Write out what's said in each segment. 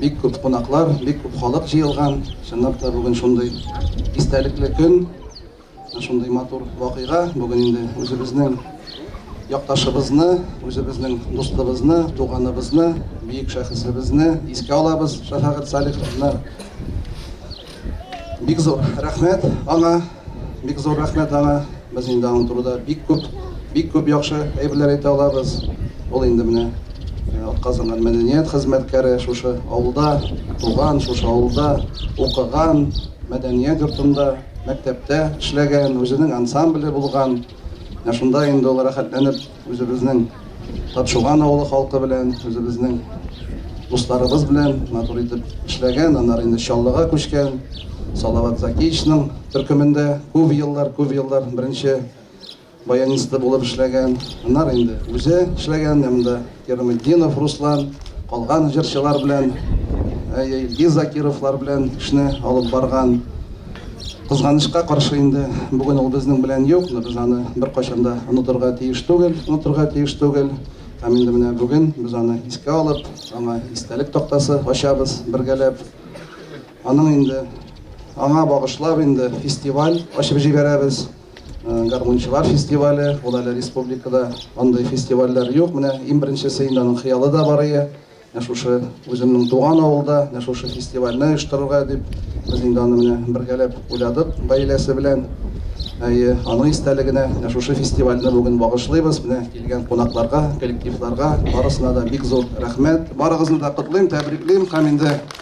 бик күп кунаклар, бик күп халык җыелган. Чынлап та бүген шундый истәлекле көн. Шундый матур вакыйга бүген инде үзебезнең якташыбызны, үзебезнең дустыбызны, туганыбызны, биек шәхесебезне искә алабыз, Шәфәгать Салиховны. Бик зур рәхмәт аңа, бик зур рәхмәт аңа. Без инде аның турында бик күп, бик күп яхшы әйберләр әйтә алабыз. Ул инде менә э, атказанган мәдәният хезмәткәре шушы авылда туган, шушы авылда укыган, мәдәният йортында Мәктәптә эшләгән, үзенең ансамбле булган. Менә шунда инде ул рәхәтләнеп үзебезнең Тапшуган авылы халкы белән, үзебезнең дусларыбыз белән матур итеп эшләгән. Аннары инде Чаллыга күчкән, Салават Закиевичның төркемендә күп еллар, күп еллар беренче баянисты булып эшләгән, аннары инде үзе эшләгән менә монда Кираметдинов Руслан, калган җырчылар белән, әйе, Илгиз Закировлар белән эшне алып барган. Кызганычка каршы инде бүген ул безнең белән юк, но без аны беркайчан да онытырга тиеш түгел, онытырга тиеш түгел. Һәм инде менә бүген без аны искә алып, аңа истәлек тактасы ачабыз бергәләп. Аның инде аңа багышлап инде фестиваль ачып җибәрәбез. Гармунчылар фестивале, ул әле республикада андый фестивальләр юк. Менә иң беренчесе инде аның хыялы да бар иде. Менә шушы үземнең туган авылда, менә шушы фестивальне оештырырга дип, без инде аны менә бергәләп уйладык гаиләсе белән. Әйе, аның истәлегенә менә шушы фестивальне бүген багышлыйбыз. Менә килгән кунакларга, коллективларга барысына да бик зур рәхмәт. Барыгызны да котлыйм, тәбриклим һәм инде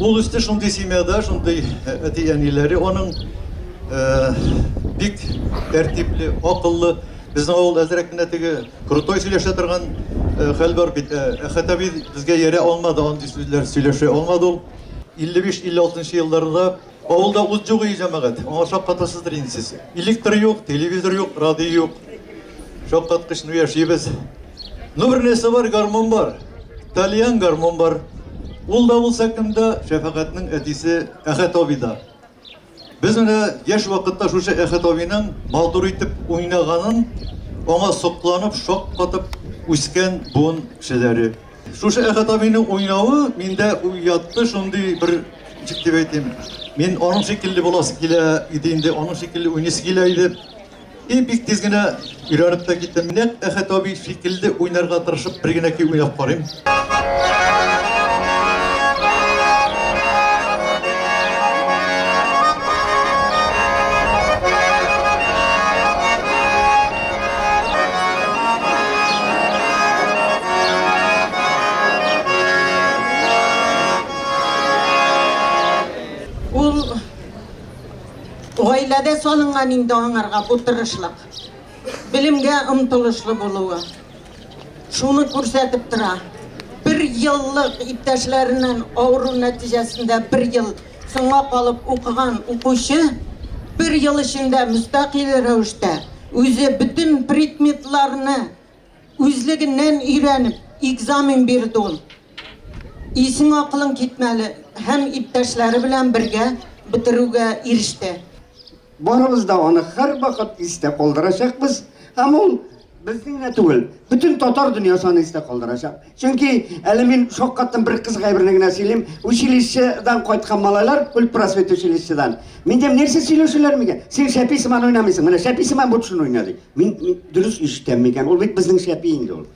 Ул үсте шундый семьяда, шундый әти-әниләре аның бик тәртипле, акыллы. Безнең авылда әзрәк кенә теге крутой сөйләшә торган хәл бар бит. Әхәт әби безгә иярә алмады, андый сүзләр сөйләшә алмады ул. 55-56 елларда Авылда ут юк, и җәмәгать, аңа шаккатасыздыр инде сез. Электр юк, телевизор юк, радио юк. Шаккаткыч, ну яшибез. Ну бер нәрсә бар, гармун бар. Тальян гармун бар. Ул да булса кемдә? Шәфәгатьнең әтисе Әхәт абыйда. Без менә яшь вакытта шушы Әхәт абыйның матур итеп уйнаганын, аңа сокланып, шаккатып үскән буын кешеләре. Шушы Әхәт абыйның уйнавы миндә уятты шундый бер ничек дип әйтим. Мин аның шикелле буласы килә иде инде, аның шикелле уйныйсы килә иде. И бик тиз генә өйрәнеп тә киттем. Менә Әхәт абый шикелле уйнарга тырышып бер генә көй уйнап карыйм. Ул гаиләдә салынган инде аңарга бу тырышлык. Белемгә омтылышлы булуы. Шуны күрсәтеп тора. Бер еллык иптәшләреннән авыру нәтиҗәсендә бер ел Соңга калып укыган укучы бер ел эчендә мөстәкыйль рәвештә үзе бөтен предметларны үзлегеннән өйрәнеп, экзамен бирде ул. Исең-акылың китмәле һәм иптәшләре белән бергә бетерүгә иреште. Барыбыз да аны һәрвакыт истә калдырачакбыз һәм ул безнең генә түгел, бөтен татар дөньясы аны истә калдырачак. Чөнки әле мин шаккаттым бер кыз гайберне генә сөйлим, училищедан кайткан малайлар, культпросвет училищедан. Мин дим, нәрсә сөйләшәләр микән? Син шәпи сыман уйнамыйсың, менә шәпи сыман бу төшен уйна ди. Мин дөрес ишетәм микән? Ул бит безнең шәпи инде ул.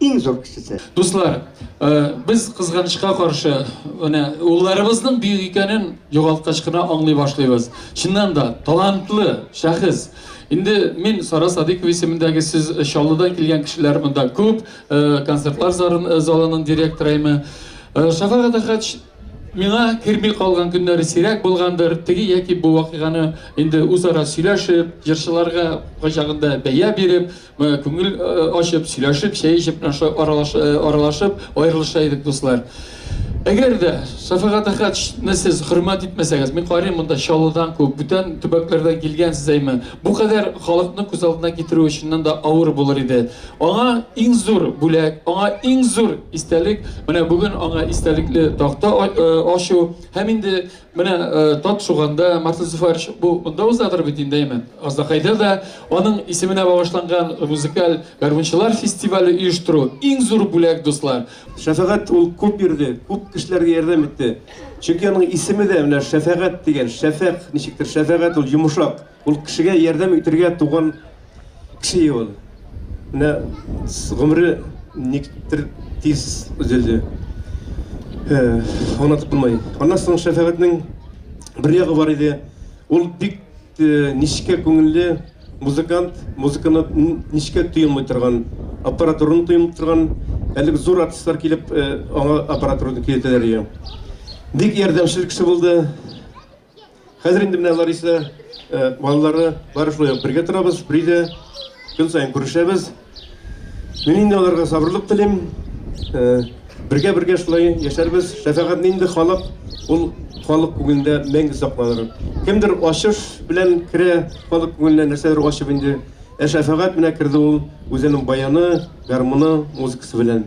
иң зур кешесе. Дуслар, без кызганычка каршы, менә улларыбызның бөек икәнен югалткач кына аңлый башлыйбыз. Чыннан да, талантлы шәхес. Инде мин Сара Садыйкова исемендәге сез Чаллыдан килгән кешеләр монда күп, концертлар залының директорымы. Шәфәгать Әхәч миңа керми калган көннәре сирәк булгандыр, теге яки бу вакыйганы инде үзара сөйләшеп, җырчыларга кайчагында бәя биреп, Күңел ачып, сөйләшеп, чәй эчеп менә шулай аралаш- э, аралашып аерылыша идек, дуслар. Әгәр дә Шәфәгать Әхәтшне сез хөрмәт итмәсәгез, мин карыйм монда Чаллыдан күп, бүтән төбәкләрдән килгәнсез әйме. Бу кадәр халыкны күз алдына китерүе чыннан да авыр булыр иде. Аңа иң зур бүләк, аңа иң зур истәлек, менә бүген аңа истәлекле такта а- э, ачу һәм инде Менә тап шуганда Мартин Зуфарович бу монда узадыр бит инде әйме. Аздакайда да аның исеменә багышланган музыкаль гармунчылар фестивале оештыру иң зур бүләк, дуслар. Шәфәгать ул күп бирде, күп кешеләргә ярдәм итте. Чөнки аның исеме дә менә Шәфәгать дигән, шәфәкъ ничектер, шәфәгать ул йомшак. Ул кешегә ярдәм итергә туган кеше ул. Менә гомере никтер тиз өзелде. Ана тотынмай. Аннан соң шәфәгатьнең бер ягы бар иде. Ул бик нечкә күңелле музыкант, музыканы нечкә тоемый торган, аппаратураны тоемый торган, әлеге зур артистлар килеп, аңа аппаратураны көйләтәләр иде. Бик ярдәмчел кеше булды. Хәзер инде менә Лариса балалары бар шулай ук бергә торабыз, бергә көн саен күрешәбез. Мин инде аларга сабырлык телим. Бергә бергә шулай яшәрбез. Шәфәгать инде халык, ул халык күңелендә мәңге сакланыр. Кемдер ачыш белән керә, халык күңеленә нәрсәдер ачып инде. Ә шәфәгать менә керде ул үзенең баяны, гармуны, музыкасы белән.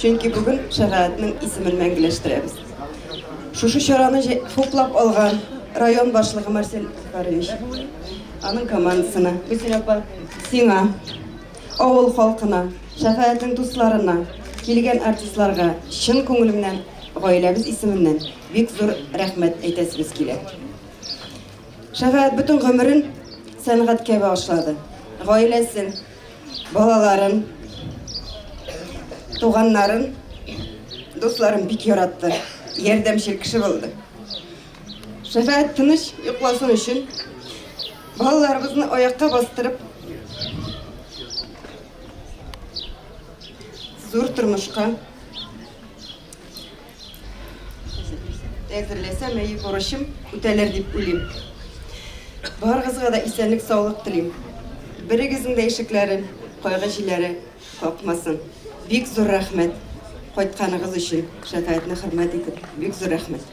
Чөнки бүген шәфәгатьнең исемен мәңгеләштерәбез. Шушы чараны хуплап алган район башлыгы Марсель Захарович, аның командасына, Гүзел апа, сиңа, авыл халкына, шәфәгатьнең дусларына, килгән артистларга чын күңелемнән, гаиләбез исеменнән бик зур рәхмәт әйтәсебез килә. Шәфәгать бөтен гомерен сәнгатькә багышлады. Гаиләсен, Балаларын, туганнарын, дусларын бик яратты. Ярдәмчел кеше булды. Шәфәгать тыныч йокласын өчен балаларыбызны аякка бастырып зур тормышка Әзерләсә мәе бурычым үтәлер дип уйлыйм. Барыгызга да исәнлек саулык телим. Берегезнең дә ишекләрен кайгы җиләре какмасын. Бик зур рәхмәт кайтканыгыз өчен. Шәфәятне хөрмәт итеп, бик зур рәхмәт.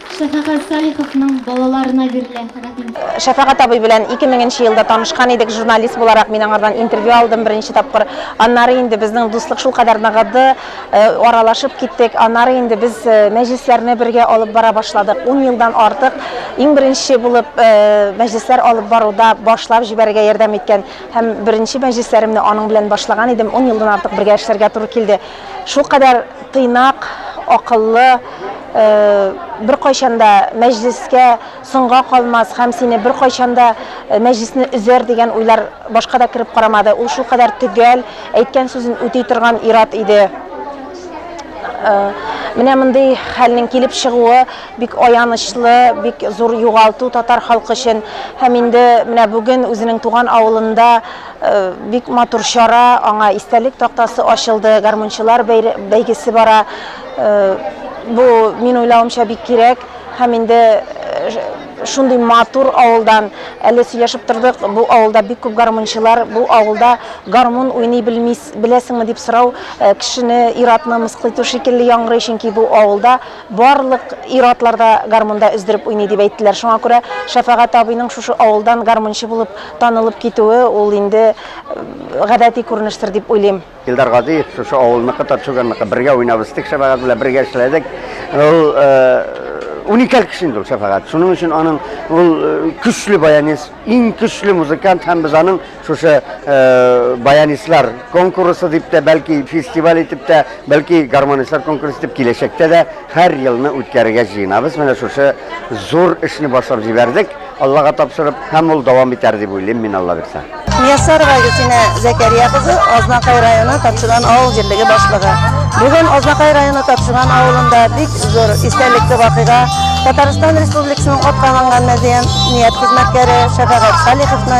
Шәфәгать Салиховның балаларына бирелә. Рәхим. Шәфәгать абый белән ике меңенче елда танышкан идек, журналист буларак мин аңардан интервью алдым беренче тапкыр. Аннары инде безнең дуслык шулкадәр ныгыды, аралашып киттек. Аннары инде без мәҗлесләрне бергә алып бара башладык. Ун елдан артык иң беренче булып мәҗлесләр алып баруда башлап җибәрергә ярдәм иткән һәм беренче мәҗлесләремне аның белән башлаган идем. Ун елдан артык бергә эшләргә туры килде. Шулкадәр тыйнак, акыллы, беркайчан да мәҗлескә соңга калмас һәм сине беркайчан да мәҗлесне өзәр дигән уйлар башка да кереп карамады. Ул шулкадәр төгәл, әйткән сүзен үти торган ир-ат иде. Менә мондый хәлнең килеп чыгуы бик аянычлы, бик зур югалту татар халкы өчен. Һәм инде менә бүген үзенең туган авылында Бик матур чара, аңа истәлек тактасы ачылды, гармунчылар бәйгесе бара. Бу, мин уйлавымча, бик кирәк. Һәм инде шундый матур авылдан, әле сөйләшеп тордык, бу авылда бик күп гармунчылар, бу авылда гармун уйный белмис, беләсеңме дип сорау кешене, ир-атны мыскыл итү шикелле яңгырый, чөнки бу авылда Барлык ир-атлар да гармунда өздереп уйный, дип әйттеләр. Шуңа күрә Шәфәгать абыйның шушы авылдан гармунчы булып танылып китүе, ул инде гадәти күренештер дип уйлыйм. Илдар Газиев, шушы авылныкы, Татшүганныкы. Бергә уйнап үстек Шәфәгать белән, бергә эшләдек. Ул уникаль кеше инде ул Шәфәгать. Шуның өчен аның ул көчле баянист, иң көчле музыкант һәм без аның Шушы баянистлар конкурсы дип тә, бәлки фестиваль итеп тә, бәлки гармонистлар конкурсы итеп киләчәктә дә һәр елны үткәрергә җыенабыз. Менә шушы зур эшне башлап җибәрдек. Аллага тапшырып, һәм ул дәвам итәр дип уйлыйм мин Алла бирсә. Мияссарова Гөлсинә Зәкәрия кызы Азнакай районы Тапшыган авыл җирлеге башлыгы. Бүген Азнакай районы Тапшыган авылында бик зур истәлекле вакыйга Татарстан Республикасының аткаланган мәдәният хезмәткәре Шәфәгать Салиховны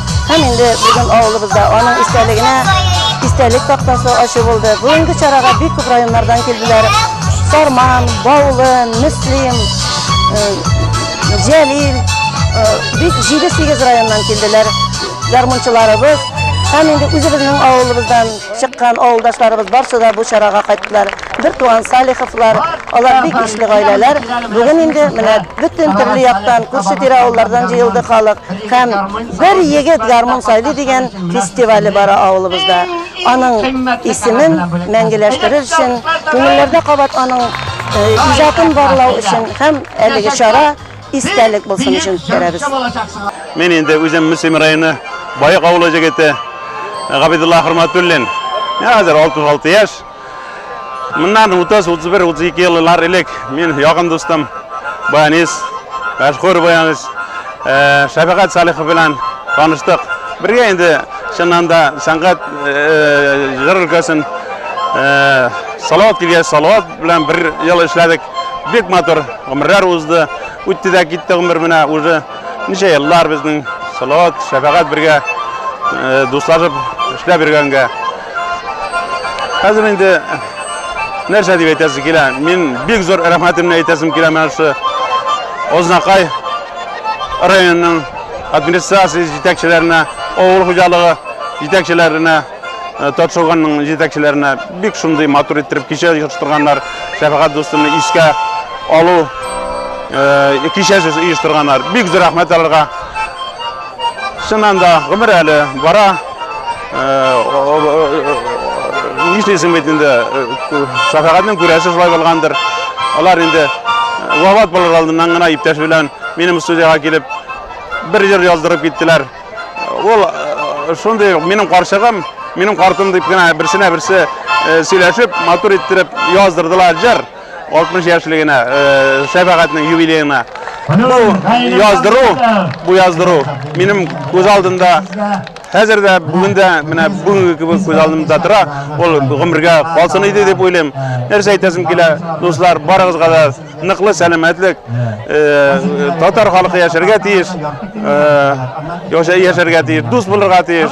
Һәм инде бүген авылыбызда аның истәлегенә истәлек тактасы ачу булды. Бүгенге чарага бик күп районнардан килделәр. Сарман, Баулы, Мөслим, э, Җәлил, э, бик 7-8 районнан килделәр ярмунчыларыбыз. Һәм инде үзебезнең авылыбыздан чыккан авылдашларыбыз барсы да бу чарага кайттылар. Бертуган Салиховлар, алар бик ишле гаиләләр. Бүген инде менә бөтен төрле яктан, күрше-тирә авыллардан җыелды халык. Һәм Бер егет гармун сайлый дигән фестивале бара авылыбызда. Аның исемен мәңгеләштерер өчен, күңелләрдә кабат аның иҗатын барлау өчен һәм әлеге чара истәлек булсын өчен үткәрәбез. Мин инде үзем Мөслим районы Баек авылы җегете Габидулла Хөрмәтуллин. Миңа хәзер 66 яшь. Моннан 30-31-32 еллар элек мин ягым дустым, баянист, мәшһүр баянист э, Шәфәгать Салихов белән таныштык. Бергә инде чыннан да сәнгать э, җыр өлкәсен э, Салават килгәч, Салават белән бер ел эшләдек. Бик матур гомерләр узды. Үтте дә китте гомер менә уже ничә еллар безнең Салават, Шәфәгать бергә дуслашып эшләп йөргәнгә. Хәзер инде нәрсә дип әйтәсе килә? Мин бик зур рәхмәтемне әйтәсем килә менә шушы Ознакай районының администрация җитәкчеләренә, авыл хуҗалыгы җитәкчеләренә, э, Татшылганның җитәкчеләренә бик шундый матур иттереп кичә оештырганнар. Шәфәгать дустымны искә алу э, кичәсе оештырганнар. Бик зур рәхмәт аларга. Чыннан да гомер әле бара. Нишлисең бит инде, шәфәгатьнең күрәсе шулай булгандыр. Алар инде вафат булыр алдыннан гына иптәш белән минем студияга килеп бер җыр яздырып киттеләр. Ул шундый минем карчыгым, минем картым дип кенә берсенә берсе сөйләшеп, матур иттереп яздырдылар җыр. 60 яшьлегенә, шәфәгатьнең юбилеена бу яздыру, бу яздыру минем күз алдында Хәзер дә бүген дә менә бүгенге кебек күз алдымда тора. Ул гомергә калсын иде дип уйлыйм. Нәрсә әйтәсем килә, дуслар, барыгызга да ныклы сәламәтлек. Татар халкы яшәргә тиеш. Яшәргә тиеш, дус булырга тиеш.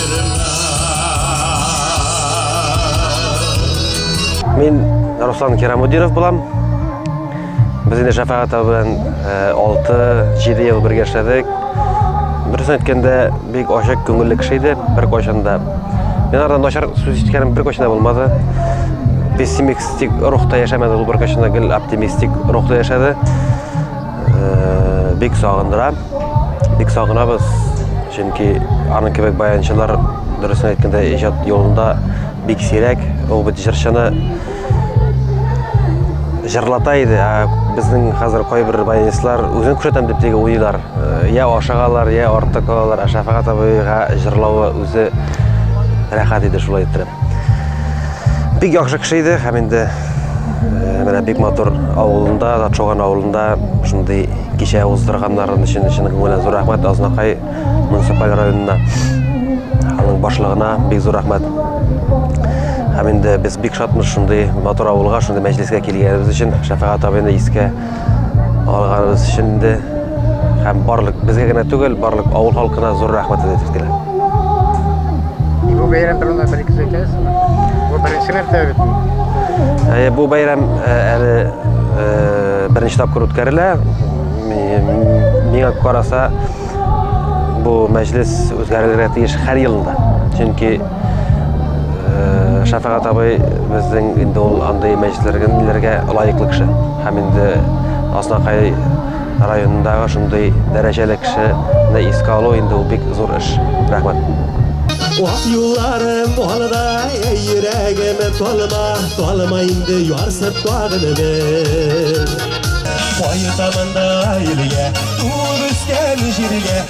Мин Руслан Керамудинов булам. Без инде шәфәгат белән 6-7 э, ел бергә эшләдек. Дөресен әйткәндә, бик ачык күңелле кеше иде бер кайчанда. Мин ардан начар сүз ишеткәнем бер кайчанда булмады. Пессимистик рухта яшәмәде ул бер кайчанда гел оптимистик рухта яшәде. Бик сагындыра. Бик сагынабыз. Чөнки аның кебек баянчылар дөресен әйткәндә иҗат юлында бик сирәк. Ул бит җырчыны җырлата иде. Ә безнең хәзер кайбер баянистлар үзен күрсәтәм дип теге уйлар. Я ашагалар, я артык алалар. Ә Шәфәгать абыйга җырлавы үзе рәхәт иде шулай иттереп. Бик яхшы кеше иде һәм инде э, менә бик матур авылында, Датшоган авылында шундый кичә уздырганнарын өчен чын күңелдән зур рәхмәт Азнакай муниципаль районына аның башлыгына бик зур рәхмәт. Һәм инде без бик шатмыз шундый матур авылга, шундый мәҗлескә килгәнебез өчен Шәфәгат абыйны искә Алганыбыз өчен дә һәм барлык безгә генә түгел, барлык авыл халкына зур рәхмәт әйтәбез килә. Бу бәйрәм турында бер ике сүз Бу беренче мәртәбә бит. Әйе, бу бәйрәм э, әле э, беренче тапкыр үткәрелә. Миңа караса, бу мәҗлес үзгәрергә тиеш һәр елында. Чөнки Шәфәгат абый безнең инде ул андый мәҗлесләргә лаеклы кеше. Һәм инде Азнакай районындагы шундый дәрәҗәле кешене искә алу инде ул бик зур эш. Рәхмәт. Ак юлларым алда, йөрәгем талма, талма инде ярсып тагын бер. Кайтамын да илгә, туып үскән җиргә,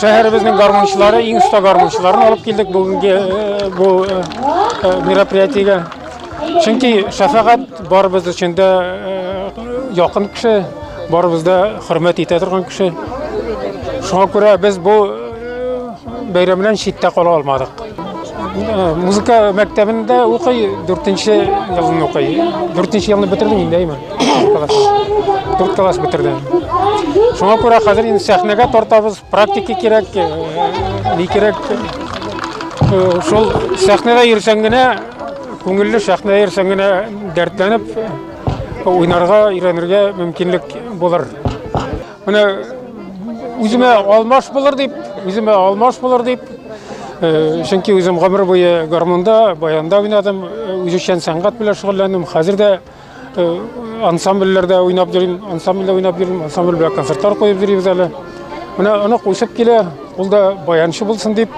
шәһәребезнең гармунчылары иң оста гармунчыларын алып килдек бүгенге бу мероприятиегә чөнки шәфәгать барыбыз өчен дә якын кеше барыбыз да хөрмәт итә торган кеше шуңа күрә без бу Бәйрәмнән читтә кала алмадык. Э, музыка мәктәбендә укый, дүртенче елын укый. Дүртенче елны бетердем инде, әйме? Дүрт класс бетердем. Шуңа күрә хәзер инде сәхнәгә тартабыз, практика кирәк, э, ни кирәк. Э, шул сәхнәдә йөрсәң генә, күңелле сәхнәдә йөрсәң генә дәртләнеп, уйнарга, өйрәнергә мөмкинлек булыр. Менә үземә алмаш булыр дип, үземә алмаш булыр дип, э, чөнки үзем гомер буе гармунда, баянда уйнадым, э, үзешчән сәнгать белән шөгыльләндем. Хәзер дә э, ансамбльләрдә уйнап йөрим, ансамбльдә уйнап йөрим, ансамбль белән концертлар куеп йөрибез әле. Менә онык үсеп килә, ул да баянчы булсын дип,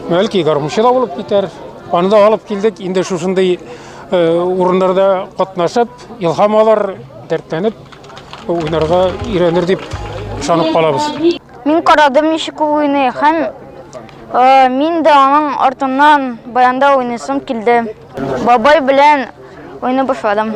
бәлки гармунчы да булып китәр. Аны да алып килдек, инде шушындый урыннарда катнашып, илһам алар, дәртләнеп Уйнарга өйрәнер дип ышанып калабыз. Мин карадым ничек ул уйный һәм э, мин дә аның артыннан баянда уйныйсым килде. Бабай белән уйный башладым.